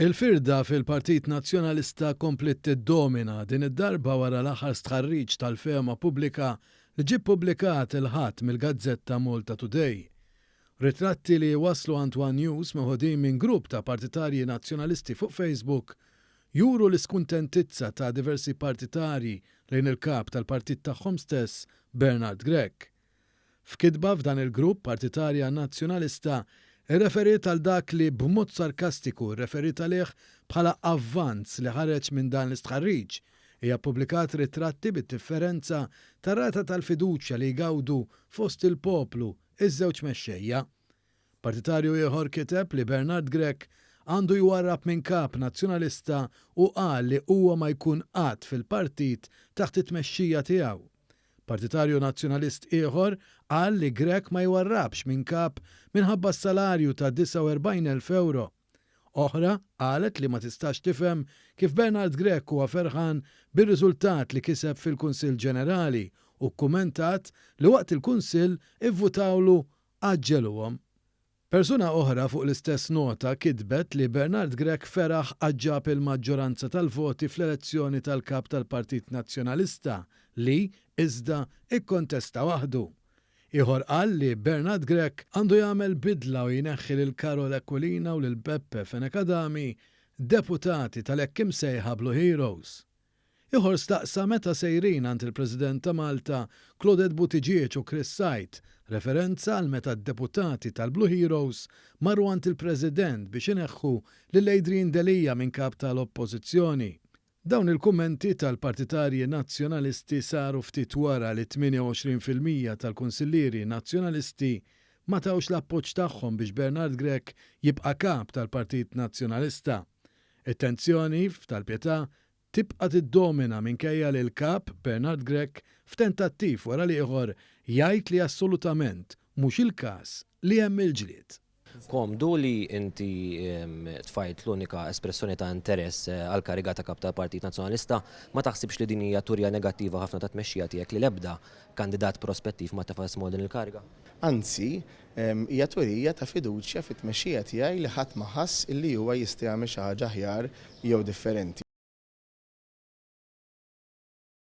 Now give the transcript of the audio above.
Il-firda fil-Partit Nazzjonalista kompliet tiddomina, din id-darba wara l-aħħar stħarriġ tal-fehma pubblika li ġie ppubblikat il-Ħadd mill-gazzetta Malta Today. Ritratti li wasslu għand one News meħudin minn grupp ta' partitarji Nazzjonalisti fuq Facebook juru l-iskuntentizza ta' diversi partitarji lejn il-Kap tal-Partit tagħhom stess Bernard Grech. F'kitba f'dan il-grupp, partitarja Nazzjonalista rreferiet għal dak li b'mod sarkastiku rreferiet għalih bħala avvanz li ħareġ minn dan l-istħarriġ. Hija ppubblikat ritratti bid-differenza tar-rata tal-fiduċja li jgawdu fost il-poplu ż-żewġ mexxejja. Partitarju ieħor kiteb li Bernard Grech għandu jwarrab minn kap Nazzjonalista u qal li huwa ma jkun qatt fil-partit taħt it-tmexxija tiegħu. Partitarju Nazzjonalist ieħor qal li Grech ma jwarrabx minn kap minħabba s-salarju ta' 49,000 ewro. Oħra qalet li ma tistax tifhem kif Bernard Grech huwa ferħan bir-riżultat li kiseb fil-Kunsill Ġenerali u kkumentat li waqt il-Kunsill ivvutawlu għaġġeluhom Persuna oħra fuq l-istess nota kitbet li Bernard Grech feraħ għax ġab il-maġġoranza tal-voti fl-elezzjoni tal-Kap tal-Partit Nazzjonalista li, iżda, ikkontesta waħdu. Ieħor qal li Bernard Grech għandu jagħmel bidla u jneħħi lil Karol Aquilina u lil Beppe Fenech Adami, deputati tal-hekk imsejħa Blue Heroes. Ieħor staqsa meta sejrin għand il-President ta' Malta, Claudette Buttigieg u Chris Said, referenza għal meta d-deputati tal-Blue Heroes marru għand il-President biex ineħħu lil Adrian Delia minn Kap ta' l-Oppożizzjoni. Dawn il-kummenti tal-partitarji Nazzjonalisti saru ftit wara li 28 fil-mija tal-Kunsillieri Nazzjonalisti ma tawx l-appoġġ tagħhom biex Bernard Grech jibqa' Kap tal-Partit Nazzjonalista. It-tensjoni f'Tal Pietà tibqa' tiddomina minkejja li l-Kap, Bernard Grech, f'tentattiv wara l-ieħor jgħid li assolutament mhux il-każ li hemm il-ġlied. Komdu li inti tfajjlt l-unika espressjoni ta' interess għall-kariga ta' Kap tal-Partit Nazzjonalista, ma taħsibx li din hija turja negattiva ħafna tat-tmexxija tiegħek li l-ebda kandidat prospettiv ma tefa' ismu għal din il-kariga? Anzi, Hija twirija ta' fiduċja fit-tmexxija tiegħi li ħadd ma ħass illi huwa jista' jagħmel xi ħaġa aħjar jew differenti.